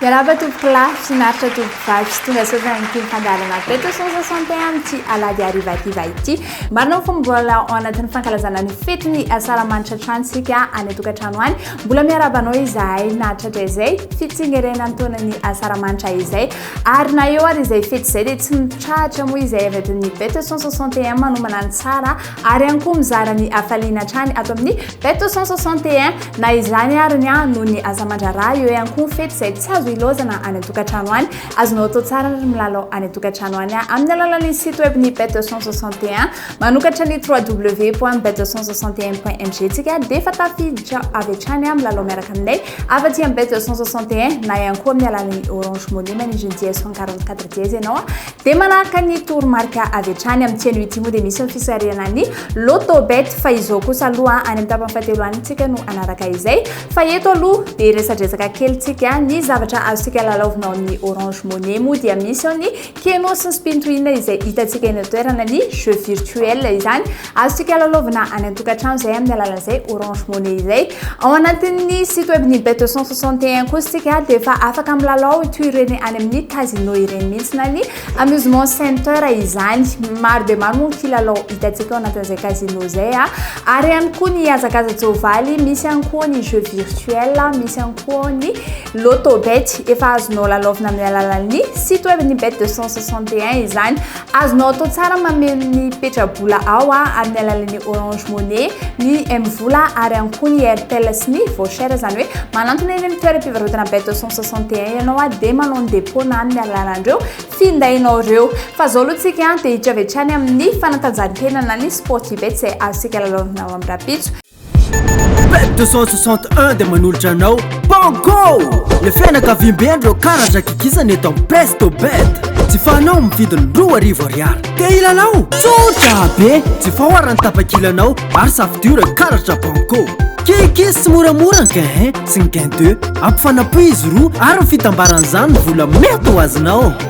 Miarahaba tompoko lahy, finaritra tompoko vavy sy tonga saotra ny tim fandaharana Beto Son 61 amin'ity alahady harivativa ity. Marina fa mbola ao anatin'ny fankalazana ny fetin'ny asaramanitra hatrany isika any an-tokantrano any. Mbola miarahaba anao izahay na hatratr'izay fitsengerenan'ny taonan'ny asaramanitra izay ary na eo ary izay fety izay dia tsy mitrahatra moa izay avy ato amin'ny Beto 161 manomana ny tsara ary ihany koa mizara ny hafaliana hatrany ato amin'ny Beto 161 na izany ary ny ahy noho ny asa aman-draharaha eo ihany koa ny fety izay tsy azo ilaozana any an-tokantrano any azonao atao tsara ary milalao any an-tokantrano any amin'ny alalan'ny site web ny Beto 161 Manokatra ny www.bet161.mg tsika dia efa tafiditra avy hatrany amin'ny lalao miaraka aminay afa-tsy amin'ny bet161 na ihany koa amin'ny alalan'ny Orange Money manindry ny dièse 144 dièse ianao dia manaraka ny toromarika avy hatrany amin'ny tsena ity moa dia misy ny fisarihana ny Lotto Bet fa izao kosa aloha any amin'ny tapany fahatelo any tsika no anaraka izay fa eto aloha dia resadresaka kely tsika ny zavatra azontsika lalaovina ao amin'ny Orange Money moa dia misy ao ny Keno sy ny Spintohina izay hitantsika eny an-toerana ny jeux virtuels izany. Azontsika lalaovina any an-tokantrano izay amin'ny alalan'izay Orange Money izay. Ao anatin'ny site web ny Bet 261 kosa isika dia efa afaka milalao toy ireny any amin'ny casino ireny mihitsy na ny amusement center izany. Maro dia maro moa ny kilalao hitantsika ao anatin'izay casino izay ary ihany koa ny hazakaza-tsoavaly, misy ihany koa ny jeux virtuels, misy ihany Poony, Lotto Bet, efa azonao lalaovina amin'ny alalan'ny site web ny Bet 261 izany. Azonao atao tsara mameno ny petra-bola ao amin'ny alalan'ny Orange Money, ny M-vola ary ihany koa ny Airtel sy ny Voucher, izany hoe manantona eny amin'ny toeram-pivarotana Bet 261 ianao dia manao ny dépôt na amin'ny alalan'ireo findainao ireo. Fa izao aloha isika dia hiditra avy hatrany amin'ny fanatanjahantena na ny Sportybet izay azontsika lalaovina ao amin'ny rahampitso. Pet 261 dia manolotra anao Banco! Le fianakaviambe an'ireo karatra kikisana eto amin'ny Presto Bet. Jifaonao amin'ny vidiny roa arivo ariary. Te hilalao? Tsotra be! Jifao arany tapakilanao ary safidio ireo karatra Banco. Kikis tsy moramora ny gain 1 sy ny gain 2. Ampifanapo izy roa ary ny fitambaran'izany ny vola mety ho azonao.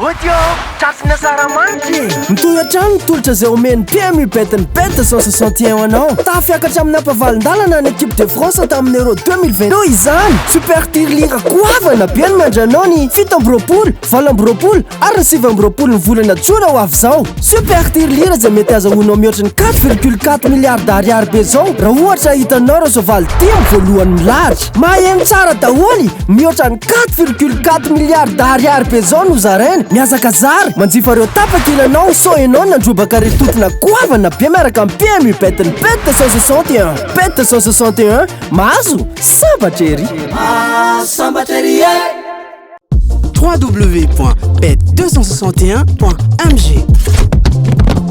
Audio tratrin'ny asaramanitra e! Mitohy hatrany ny tolotra izay omen'ny PM UBET ny Bet 161 ho anao. Tahafiakatra amin'ny hampavalin-dalana ny Equipe de France tamin'ny Euro 2020. Noho izany, Super Tir Lira goavana be no miandry anao ny fito amby roapolo, valo amby roapolo ary ny sivy amby roapolo ny volana jona ho avy izao. Super Tir Lira izay mety hazahoanao mihoatra ny quatre virgule quatre milliards ariary be izao raha ohatra hitanao ireo soavaly dimy voalohany milahatra. Maheno tsara daholo! Mihoatra ny 4,4 milliards d'ariary be zao no zaraina. Miazaka zara, manjifa reo tapaka ilanao sao enao nandrobaka re toetrona goavana be miaraka am PMU bet ny bet 261. Bet 261, mahazo? Sambatra ery. Sambatra ery e! www.bet261.mg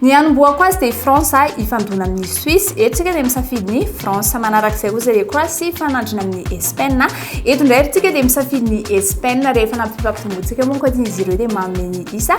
Ny hanombohako azy dia i France ahy hifandona amin'ny Suisse. Eto isika dia misafidy ny France. Manarak'izay koa izay Croatie hifanandrina amin'ny Espaina. Eto indray isika dia misafidy ny Espaina rehefa nampifampidimbotsika moa ankoatr'izy ireo dia manome ny isa.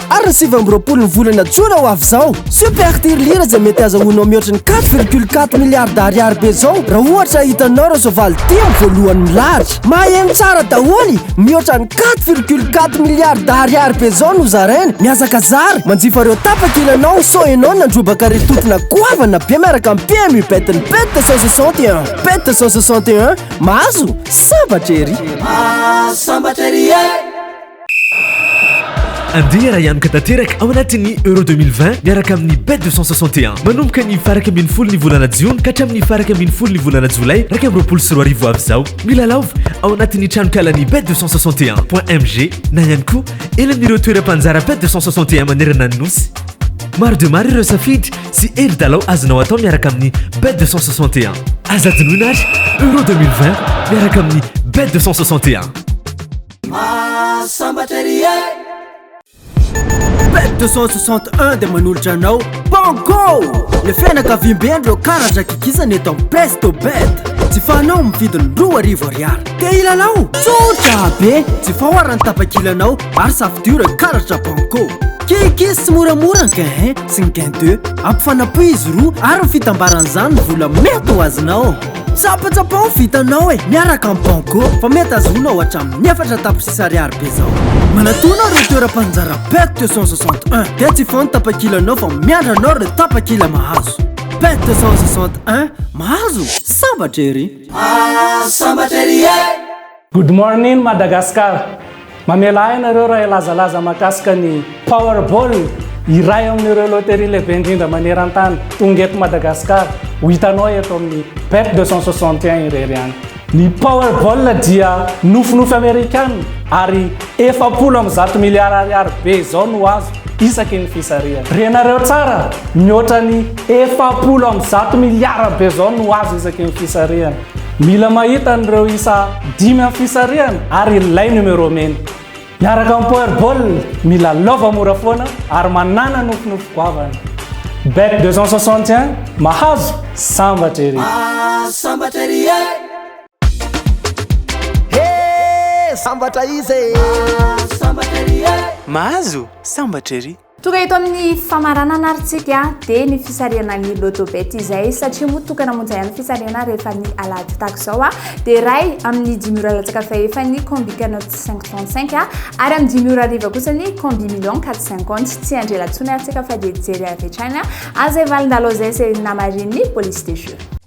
Ary ny sivy amby roapolo ny volana jona ho avy izao, super tirelire izay mety azahoanao mihoatra ny quatre virgule quatre milliards ariary be izao raha ohatra hitanao ireo soavaly dimy voalohany milahatra. Maheno tsara daholo, mihoatra ny quatre virgule quatre milliards ariary be izao no zaraina. Mihazakazara, manjifa ireo tapakila anao sao ianao nandrobaka ry tontona goavana be miaraka amin'ny PMU bet ny bet cent soixante et un. Bet cent soixante et un, mahazo sambatra ery. Mahazo sambatra ery e! Andeha raha hianoka tanteraka ao anatin'ny Euro 2020 miaraka amin'ny Bet 261. Manomboka ny faraka ambin'ny folo ny volana jiona ka hatramin'ny faraka ambin'ny folo ny volana jolay iraika amby roapolo sy roa arivo avy izao. Milalaova ao anatin'ny tranonkalan'ny Bet 261.mg na ihany koa eny amin'ireo toeram-panjara Bet 261 manerana ny nosy. Maro dia maro ireo safidy sy hery dalao azonao atao miaraka amin'ny Bet 261. Aza adinoina ary Euro 2020 miaraka amin'ny Bet 261. Mahasambatra ery e! Pet 261 dia manolotra anao Banco! Le fianakaviambe an'ireo karatra kikisana eto amin'ny Presto Bet. Jifaonao amin'ny vidiny roa arivo ariary. Te hilalao? Tsotra be! Jifao ara ny tapakilanao ary safidio ireo karatra Banco. Kikis tsy moramora ny gain 1 sy ny gain 2. Ampifanapoy izy roa ary ny fitambaran'izany ny vola mety ho azonao. Tsapatsapa ho vitanao e, miaraka amin'ny Banco fa mety azonao hatramin'ny efatra tapitrisa ariary be zao. Manatona ireo toeram-panjara PET 261 dia tsy foana tapakilanao fa miandry anao ireo tapakila mahazo. PET 261, mahazo? Sambatra ery! Ah, sambatra ery e! Good morning Madagascar! Mamela ahy ianareo raha hilazalaza mahakasika ny Powerball, iray amin'ireo loterie lehibe indrindra maneran-tany. Tonga eto Madagasikara, ho hitanao eto amin'ny Bet 261 irery ihany. Ny Powerball dia nofinofy Amerikana ary efapolo amby zato miliara ariary be izao no azo isaky ny fisarihana. Renareo tsara, mihoatra ny efapolo amby zato miliara be izao no azo isaky ny fisarihana. Mila mahita an'ireo isa dimy amin'ny fisarihana ary ilay numéro mena. Miaraka amin'ny Powerball, mila lova mora foana ary manàna nofinofy goavana. Bet 261, mahazo, sambatra ery! Mahazo sambatra ery e! He! Sambatra iza e! Mahazo sambatra ery e! Mahazo sambatra ery! Tonga eto amin'ny famaranana ary tsika dia ny fisarihana ny lotobet izay satria moa tokana monja ihany fisarihana rehefa ny alahady tako izao a dia ray amin'ny dimy ora latsaka fahefa ny combi canote 535 a ary amin'ny dimy ora riva kosa ny combi million 450 tsy andrela tsony ary tsika fa dia jery avy hatrany a azay valindalo izay se namarin'ny police de jeu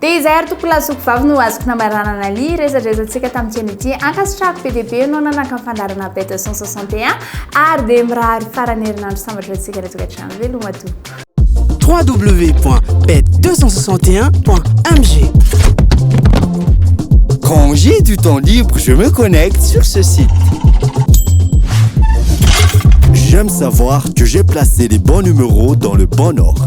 Dia izay ary tompolahy sy zokovavy no azoko namaranana ny resadresantsika tamin'ity anio ity. Ankasitrahako be dia be ianao nanaka ny fandaharana Bête 161 ary dia mirary faran'ny herinandro sambatra ho antsika ratsy hatrany. Veloma tompoko. www.bet261.mg Quand j'ai du temps libre, je me connecte sur ce site. J'aime savoir que j'ai placé les bons numéros dans le bon ordre.